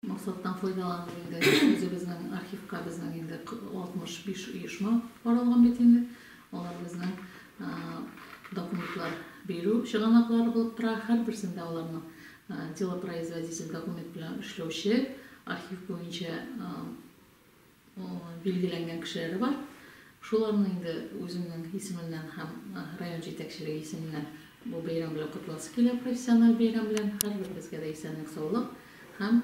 Максаттан файдаланып инде үзебезнең архивка безнең инде 65 оешма каралган бит инде. Алар безнең документлар бирү чыганаклары булып тора. Һәрберсендә аларның делопроизводитель документ белән эшләүче, архив буенча билгеләнгән кешеләре бар. Шуларны инде үземнең исемемнән һәм район җитәкчелеге исеменнән бу бәйрәм белән котласы килә, профессиональ бәйрәм белән, һәрберебезгә дә исәнлек-саулык һәм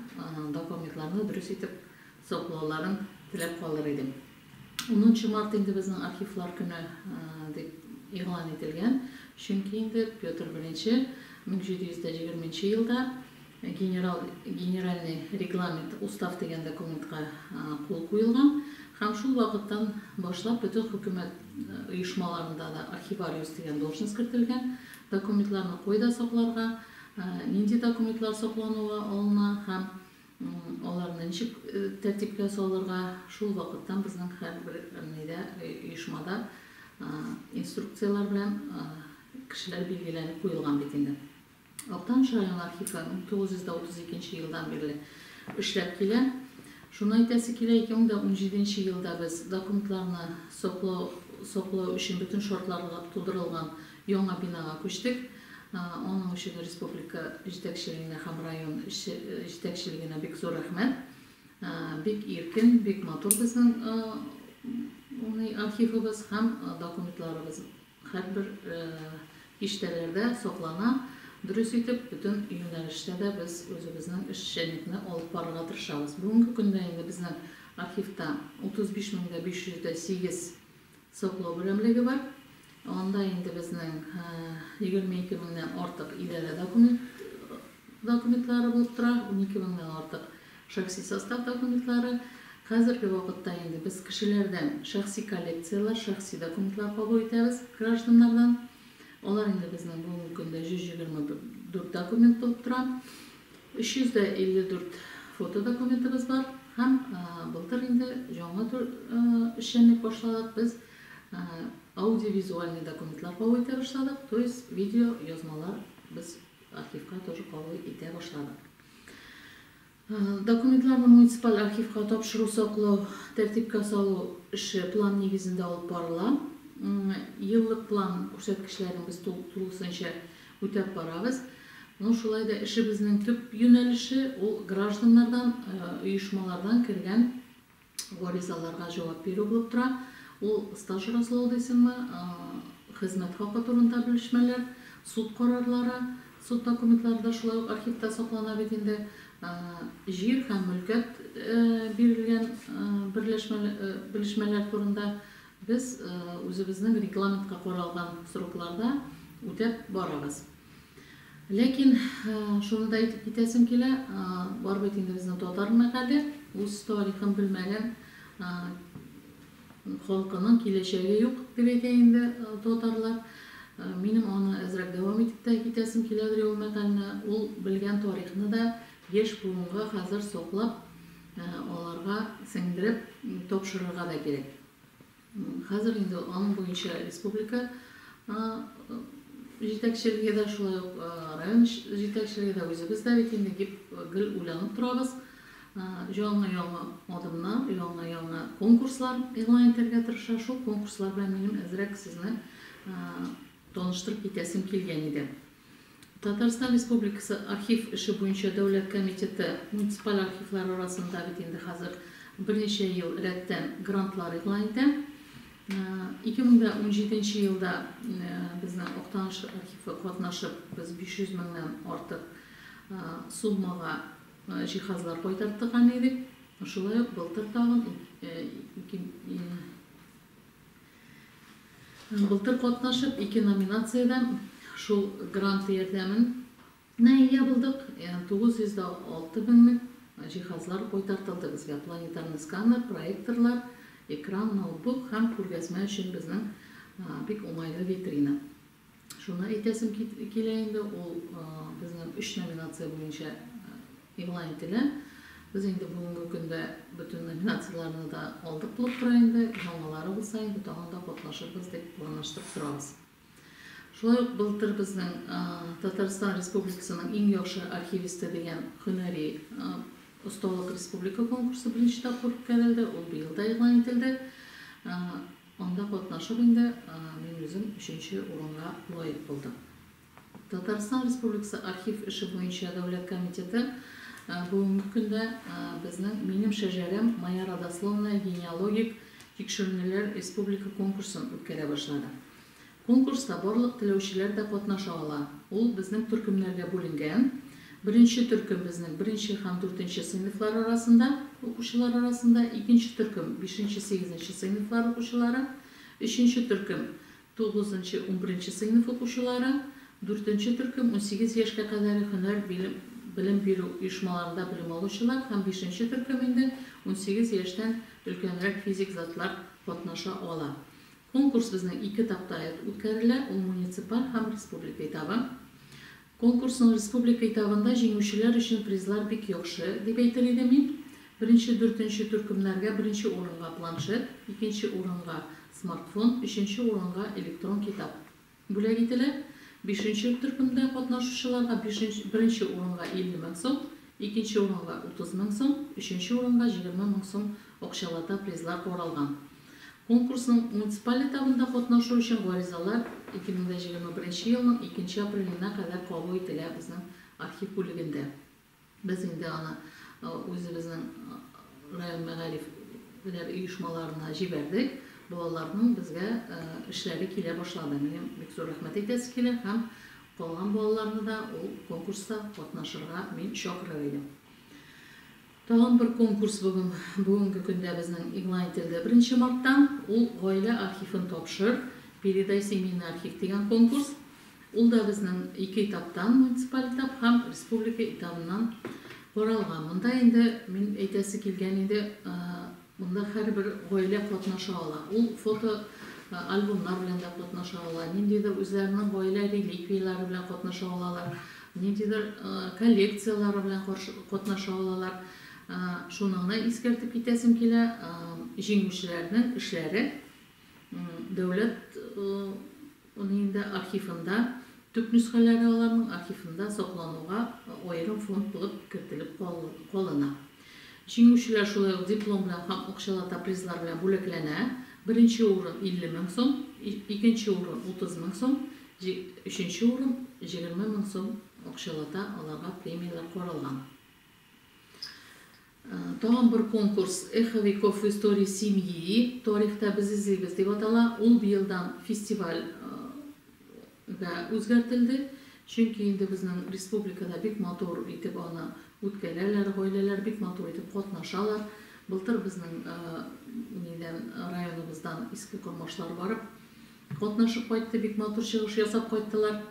документларны дөрес итеп саклауларын теләп калыр идем. Унынчы март инде безнең архивлар көне дип игълан ителгән, чөнки инде Петр I 1720 нче елда Генерал Генеральный регламент, Устав дигән документка кул куелган һәм шул вакыттан башлап бөтен хөкүмәт оешмаларында да архивариус дигән должность кертелгән. Документларны кайда сакларга, нинди документлар саклануга алына һәм аларны ничек тәртипкә салырга шул вакыттан безнең һәрбер нидә, оешмада инструкцияләр белән кешеләр билгеләнеп куелган бит инде. Актаныш районы архивы 1932 елдан бирле эшләп килә. Шуны әйтәсе килә, 2017 елда без документларны саклау өчен бөтен шартлар тудырылган яңа бинага күчтек. Аның өчен республика җитәкчелегенә һәм район җитәкчелегенә бик зур рәхмәт. Бик иркен, бик матур безнең архивыбыз һәм документларыбыз. Һәрбер киштәләрдә саклана. Дөрес итеп, бөтен юнәлештә дә без үзебезнең эшчәнлекне алып барырга тырышабыз. Бүгенге көндә инде безнең архивта 35 мең дә 508 саклау берәмлеге бар. Анда инде безнең 22 меңнән артык идарә документлары булып тора, унике меңнән артык Шәхси состав документлары, Хәзерге вакытта инде без кешеләрдән шәхси коллекцияләр, шәхси документлар кабул итәбез, гражданнардан. Алар инде безнең бүгенге көндә 124 документ булып тора. 354 фотодокументыбыз бар һәм былтыр инде яңа эшчәнлек башладык. Без аудиовизуальный документлар кабул итә башладык, то есть видеоязмалар без архивка тоже кабул итә башладык. Документларны муниципаль архивка тапшыру-саклау, тәртипкә салу эше план нигезендә алып барыла. Еллык план күрсәткечләрен без тулысынча үтәп барабыз. Ну, шулай да эшебезнең төп юнәлеше ул гражданнардан, оешмалардан кергән гаризаларга җавап бирү булып тора. Ул стаж раслау дисеңме, хезмәт хакы турында белешмәләр, суд карарлары, суд документлары да шулай ук архивта саклана бит инде, җир һәм мөлкәт бирелгән белешмәләр турында без үзебезнең регламентка каралган срокларда үтәп барабыз. Ләкин шуны да әйтеп китәсем килә, бар бит инде безнең татар мәкале, үз тарихын белмәгән халкының киләчәге юк, дип әйтә инде татарлар. Минем аны әзрәк дәвам итеп тә китәсем киләдер ул мәкальне. Ул белгән тарихны да яшь буынга хәзер саклап, аларга сеңдереп тапшырырга да кирәк. Хәзер инде аның буенча республика җитәкчелеге дә, шулай ук район җитәкчелеге дә, үзебез дә бит инде гел уйланып торабыз. Яңа-яңа адымнар, яңа-яңа конкурслар игълан итәргә тырыша. Шул конкурслар белән минем әзрәк сезне таныштырып китәсем килгән иде. Татарстан Республикасы Архив эше буенча дәүләт комитеты муниципаль архивлар арасында бит инде хәзер берничә ел рәттән грантлар игълан итә. Ике мең дә унҗиденче елда безнең Актаныш архивы катнашып, без 500 меңнән артык суммага җиһазлар кайтартырган идек. Шулай ук былтыр тагын ике Былтыр катнашып, ике номинациядә шул грант ярдәменә ия булдык. 906 меңлек җиһазлар кайтартылды безгә, планетарный сканер, проекторлар, экран, ноутбук һәм күргәзмә өчен безнең бик уңайлы витрина. Шуны әйтәсем килә инде, ул безнең өч номинация буенча игълан ителә. Без инде бүгенге көндә бөтен номинацияләрне дә алдык булып тора инде. Яңалары булса инде тагын да катнашырбыз дип планлаштырып торабыз. Шулай ук былтыр безнең Татарстан Республикасының иң яхшы архивисты дигән һөнәри осталык республика конкурсы беренче тапкыр үткәрелде, ул быел да игълан ителде. Анда катнашып инде мин үзем өченче урынга лаек булдым. Татарстан Республикасы Архив эше буенча дәүләт комитеты бүгенге көндә безнең Минем шәҗәрәм, Моя родословная генеалогик тикшеренүләр республика конкурсын үткәрә башлады. Конкурста барлык теләүчеләр дә катнаша ала. Ул безнең төркемнәргә бүленгән. Беренче төркем безнең беренче һәм дүртенче сыйныфлар арасында, укучылар арасында, икенче төркем бишенче-сигезенче сыйныфлар укучылары, өченче төркем тугызынчы-унберенче сыйныф укучылары, дүртенче төркем унсигез яшькә кадәре һөнәр билем белем бирү оешмаларында белем алучылар һәм бишенче төркем инде унсигез яшьтән өлкәнрәк физик затлар катнаша ала. Конкурс безнең ике этапта үткәрелә, ул муниципаль һәм республика этабы. Конкурсның республика этабында җиңүчеләр өчен призлар бик яхшы, дип әйтер идем мин. Беренче, дүртенче төркемнәргә беренче урынга планшет, икенче урынга, смартфон, өченче урынга, электрон китап. бүләк ителә. Бишенче төркемдә катнашучыларга бишенче беренче урынга 50 мең сум, икенче урынга 30 мең сум, өченче урынга 20 мең сум акчалата призлар каралган. Конкурсның муниципаль этабында катнашу өчен гаризалар 2021 елның икенче апреленә кадәр кабул ителә безнең архив бүлегендә. Без инде аны үзебезнең район мәгариф ләр оешмаларына җибәрдек. Балаларның безгә эшләре килә башлады. Минем бик зур рәхмәт әйтәсе килә һәм калган балаларны да ул конкурста катнашырга мин чакырыр идем. Тагын бер конкурс бүген, бүгенге көндә безнең игълан ителде беренче марттан. Ул Гаилә архивын тапшыр, Передай семейный архив дигән конкурс. Ул да безнең ике этаптан, муниципаль этап һәм республика этабыннан каралган. Монда инде мин әйтәсе килгән иде, монда һәрбер гаилә катнаша ала. Ул фото альбомнар белән дә катнаша ала, ниндидер үзләренең гаилә реликвияләре белән катнаша алалар, ниндидер коллекцияләре белән катнаша алалар. Шуны гына искәртеп китәсем килә, җиңүчеләрнең эшләре дәүләт Моны инде архивында, төп нөсхәләре аларның архивында саклануга аерым фонд булып кертелеп калына. Җиңүчеләр шулай ук диплом белән һәм акчалата призлар белән бүләкләнә, беренче урын, 50 мең сум, икенче урын, 30 мең сум, өченче урын, 20 мең сум акчалата аларга премияләр каралган. Тагын бер конкурс Эхо веков в истории семьи, Тарихта без эзлибез, дип атала. Ул быелдан фестиваль гә үзгәртелде, чөнки инде безнең республикада бик матур итеп аны үткәрәләр, гаиләләр бик матур итеп катнашалар. Былтыр безнең районыбыздан Иске Кормашлар барып, Катнашып кайтты, бик матур чыгыш ясап кайттылар.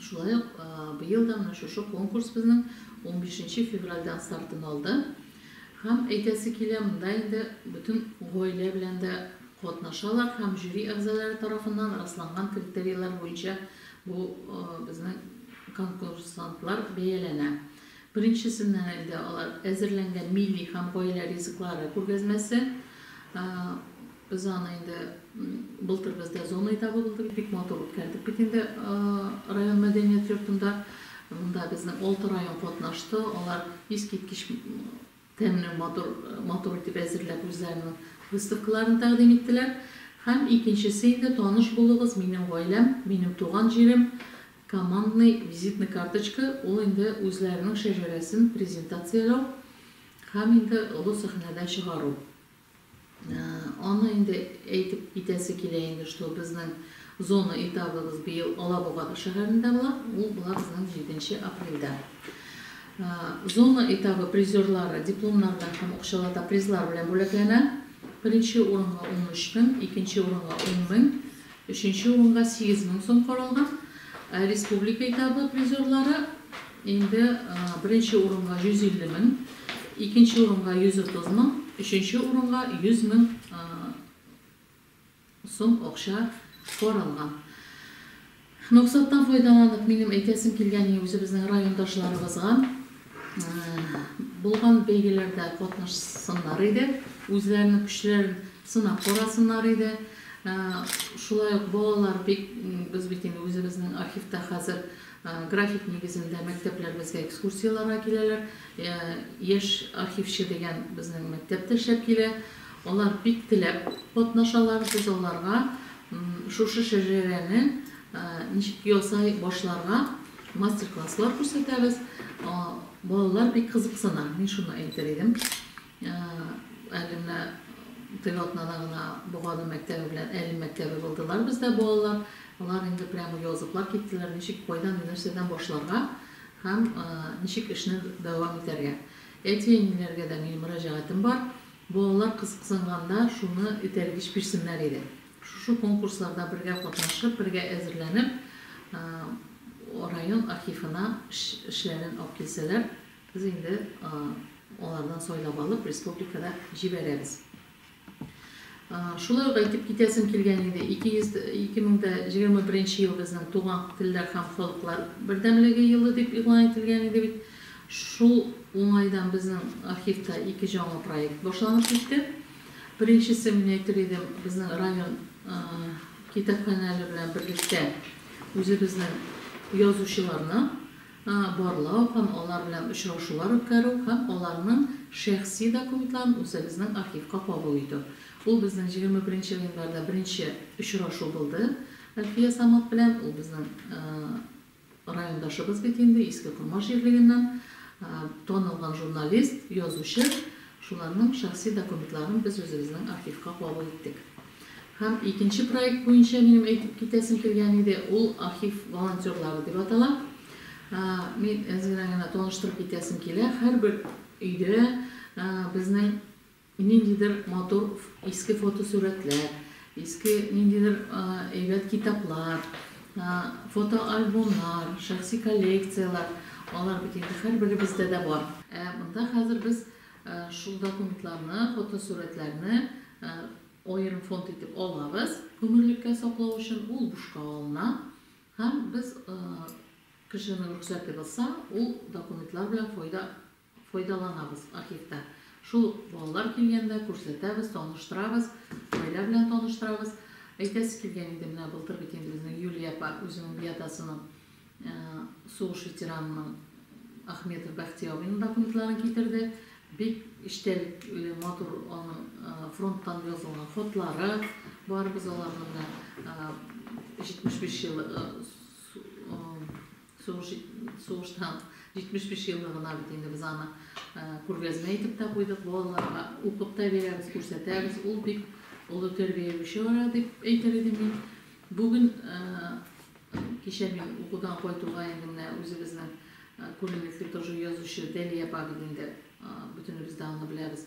Шулай ук быел да менә шушы конкурс безнең унбишенче февральдән стартын алды. Һәм әйтәсе килә, монда инде бөтен гаилә белән дә катнашалар һәм жюри әгъзалары тарафыннан расланган критерийлар буенча бу безнең конкурсантлар бәяләнә. Беренчесеннән инде алар әзерләнгән милли һәм гаилә ризыклары күргәзмәсе Без аны инде былтыр бездә зона этабы булды. Бик матур үткәрдек бит инде район мәдәният йортында. Монда безнең алты район катнашты. Алар искиткеч тәмле, матур, матур итеп әзерләп үзләренең выставкаларын тәкъдим иттеләр. Һәм икенчесе инде, таныш булыгыз, Минем гаиләм, минем туган җирем, командный визитный карточка. Ул инде үзләренең шәҗәрәсен презентацияләү һәм инде олы сәхнәдә чыгару. Аны инде әйтеп китәсе килә инде, что безнең зона этабыбыз быел Алабуга шәһәрендә була, ул була безнең җиденче апрельдә. Зона этабы призерлары дипломнар белән һәм акчалата призлар белән бүләкләнә. Беренче урынга 13 мең, икенче урынга 10 мең, Өченче урынга сигез мең сум каралган. Республика этабы призерлары инде беренче урынга 150 мең, икенче урынга 130 мең, өченче урынга 100 мең сум акча каралган. Максаттан файдаланып, минем әйтәсем килгәне үзебезнең райондашларыбызга, Булган бәйгеләрдә катнашсыннар иде, үзләренең көчләрен сынап карасыннар иде. Шулай ук балалар бик, без бит инде үзебезнең архивта хәзер график нигезендә мәктәпләребезгә экскурсияләргә киләләр. Яшь архивчы дигән безнең мәктәп тә эшләп килә. Алар бик теләп катнашалар. Без аларга шушы шәҗәрәне ничек ясай башларга, Мастер-класслар күрсәтәбез. Балалар бик кызыксына, мин шуны әйтер идем. Әле менә теге атнада гына Богадым мәктәбе белән Әлем мәктәбе булдылар бездә балалар. Алар инде прямо языклар киттеләр, ничек, кайдан, нәрсәдән башларга һәм ничек эшне дәвам итәргә. Әти-әниләргә дә минем мөрәҗәгатем бар. Балалар кызыксынганда шуны этәргеч бирсеннәр иде. Шушы конкурсларда бергә катнашып, бергә әзерләнеп, район архивына эшләрен алып килсәләр, без инде алардан сайлап алып, республикада җибәрәбез. Шулай ук әйтеп китәсем килгән иде, 2021 ел безнең Туган телләр һәм халыклар бердәмлеге елы дип игълан ителгән иде бит. Шул уңайдан безнең архивта ике җаңа проект башланып китте. Беренчесе, мин әйтер идем, безнең район китапханәләре белән берлектә үзебезнең язучыларны барлау һәм алар белән очрашулар үткәрү һәм аларның шәхси документларын үзебезнең архивка кабул итү. Ул безнең 21 гыйнварда беренче очрашу булды Әлфия Самат белән, ул безнең Райондашыбыз бит инде Иске Кормаш җирлегеннән танылган журналист, язучы. Шуларның шәхси документларын без үзебезнең архивка кабул иттек. Һәм икенче проект буенча минем әйтеп китәсем килгән иде, ул Архив волонтерлары дип атала. Мин әзерәк генә таныштырып китәсем килә, һәрбер өйдә безнең Ниндидер матур иске фотосурәтләр, иске ниндидер әйбәт китаплар, фотоальбомнар, шәхси коллекцияләр, алар бит инде һәрберебездә дә бар. Ә монда хәзер без шул документларны, фотосурәтләрне аерым фонд итеп алабыз, гомерлеккә саклау өчен ул бушка алына һәм без кешенең рөхсәте булса, ул документлар белән файда Файдаланабыз архивта. Шул ук балалар килгәндә күрсәтәбез, таныштырабыз, гаилә белән таныштырабыз. Әйтәсе килгән иде, менә былтыр бит инде безнең Юлия апа үзенең биатасының, сугыш ветеранының Ахметов Бәхти абыйның документларын китерде. Бик эчтәлекле, матур аның фронттан язылган хотлары бар. Без аларны менә 75 ел Сугыштан 75 еллыгына бит инде без аны күргәзмә итеп тә куйдык, балаларга укып та бирәбез, күрсәтәбез. Ул бик олы тәрбияле чара дип әйтер идем мин. Бүген кичә мин укудан кайтуга инде менә үзебезнең күренекле тоже язучы Дәлия апа бит инде бөтенебез дә аны беләбез.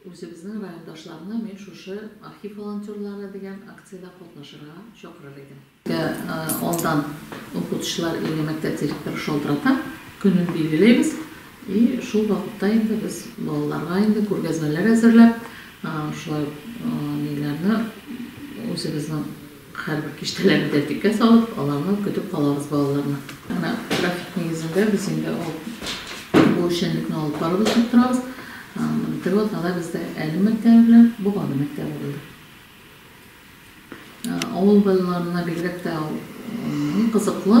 Үзебезнең райондашларны мин шушы Архив волонтерлары дигән акциядә катнашырга чакырыр идем. Алдан укытучылар или мәктәп директоры шалтырата, көнен билгеләйбез и шул вакытта инде без балаларга инде күргәзмәләр әзерләп, шулай ук ниләрне үзебезнең Һәрбер киштәләрен тәртипкә салып, аларны көтеп калабыз, балаларны. Менә график нигезендә без инде ул бу эшчәнлекне алып барып эшләп торабыз. Менә теге атнада бездә Әлем мәктәбе белән Боганы мәктәбе булды. Авыл балаларына бигрәк тә ул кызыклы.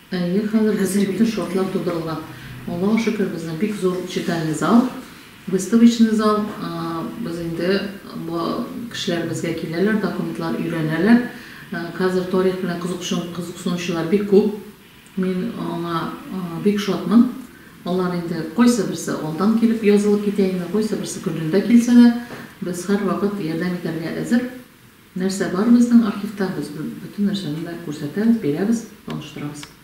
Әйе, хәзер безнең бөтен шартлар тудырылган. Аллага шөкер, безнең бик зур читальный зал, выставочный зал. Без инде бу кешеләр безгә киләләр, документлар өйрәнәләр. Хәзер тарих белән кызыксынучылар бик күп. Мин аңа бик шатмын. Алар инде кайсыберсе алдан килеп язылып китә инде, кайсыберсе көнендә килсә дә, без һәрвакыт ярдәм итәргә әзер. Нәрсә бар безнең архивта, без бөтен нәрсәне дә күрсәтәбез, бирәбез, таныштырабыз.